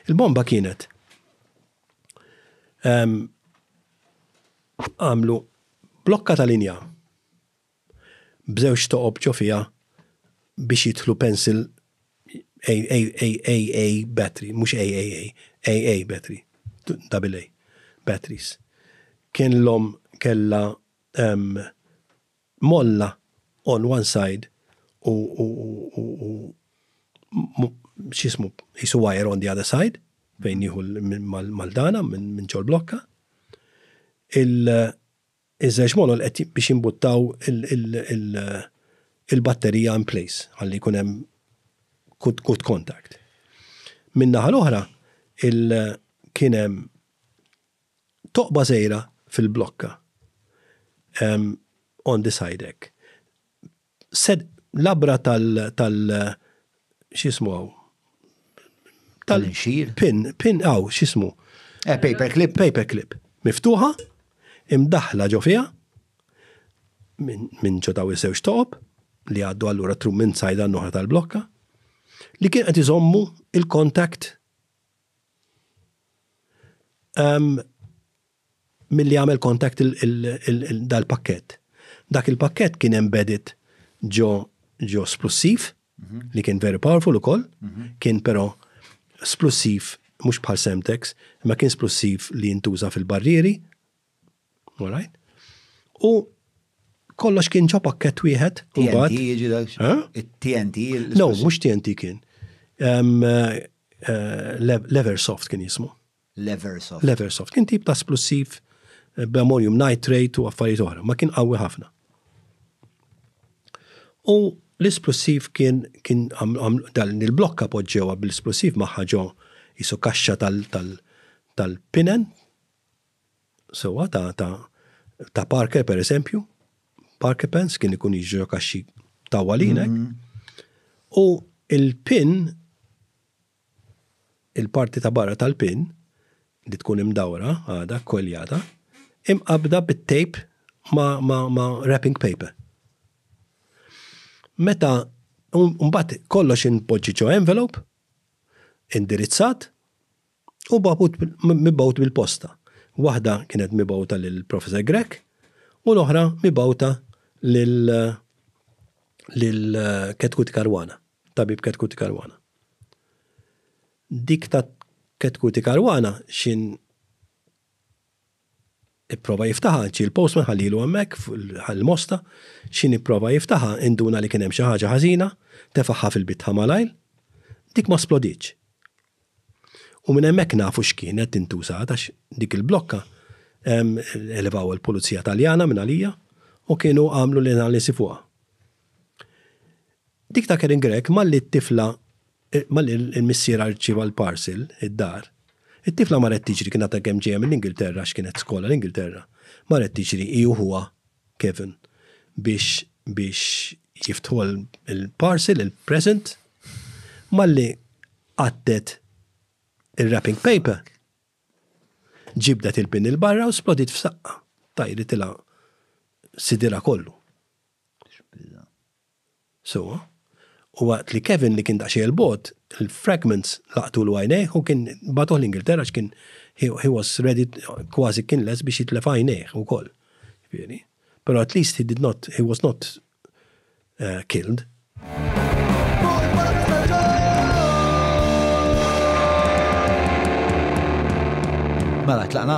Il-bomba kienet għamlu blokka ta' linja b'żewġ toqob ġo fija biex jidħlu pencil AA battery, mhux AAA, AA battery, double A batteries. Kien l-om kella Molla on one side u x'jismu qisu wire on the other side fejn jieħu l-Maldana minn ġol blokka. Iż-żewġ molol qed biex jimbuttaw il-batterija in place ħalli jkun hemm good contact. Min-naħa l-oħra kien hemm Toqba żgħira fil-blokka on the side hekk. Labra tal x'jismu hawn? Tal-inxir? Pin, pin hawn x'jismu? Eh, paper clip. Paper clip. Miftuħa, imdaħla ġo fiha, minn ġo daw iż-żewġ toqob, li għaddu allura trum minn sajda n-noħra tal-blokka, li kien qed iżommu il-kontakt Milli għamel contact dal-pakket. Dak il-pakket kien embedded ġo ġo splussiv, mhm. li kien very powerful ukoll, mhm. kien però splussiv mhux bħal Semtex, ma kien splussiv li jintuża fil-barrieri, Alright? U kollox kien ġo pakket wieħed. TNT jiġi dak? TNT? No, mux TNT kien. Leversoft kien jismu. Leversoft. Leversoft. Kien tip ta' splussiv b'ammonium nitrate u affarijiet oħra, ma kien qawwi ħafna. U l-isplussiv kien kien dan il-blokka poġġewa bl-isplussiv maħħa ġo jisu kaxxa tal-pinen sewwa ta' ta' ta' Parker per eżempju, Parker Pence kien ikun jiġri kaxxi ta' walinek. Mm-hmm. U il-pin, il-parti ta' barra tal-pin, li tkun imdawra għada, kweljata, imqabda bit-tape ma, ma, ma wrapping paper. Meta, un-bat kollox in-poġġiċo envelope, indirizzat, u bagħbut mibgħut bil-posta. Waħda kienet mibgħuta lil Professor Grech u l-oħra mibgħuta lil lil Ketkuti Karwana, tabib Ketkuti Karwana. Dik ta' Ketkuti Karwana xin Ipprova jiftaħha, ġie l-postman ħallilu hemmhekk fuq il-mosta, x'inhi pprova jiftaħha, induna li kien hemm xi ħaġa ħażina, tefagħha fil-bitħa malajr, dik ma splodietx. U minn hemmhekk nafu x'kienet intużat għax dik il-blokka elevaw il-Pulizija Taljana minn għalija u kienu għamlu l-analisi fuqha. Dik ta' Karen Grech malli t-tifla malli l-missierha rċieva l-parcel id-dar, it-tifla marret tiġri kien għadha kemm ġejja mill-Ingilterra għax kienet skola l-Ingilterra, marret tiġri hi u ħuha Kevin biex biex jiftħuha l-parcel, il-present, malli qattet ir-wrapping paper, ġibdet il-pin 'il barra u splodiet f'saqqa, tajritilha sidirha kollu. sewwa, u waqt li Kevin li kien daqsxejn 'il bogħod, il-fragments laqtulu għajnejh u kien bagħtuh l-Ingilterra għax kien he was ready kważi kien lest biex jitlef għajnejh ukoll. Jiġifieri. Però at least he did not, he was not killed. Mela tlaqna?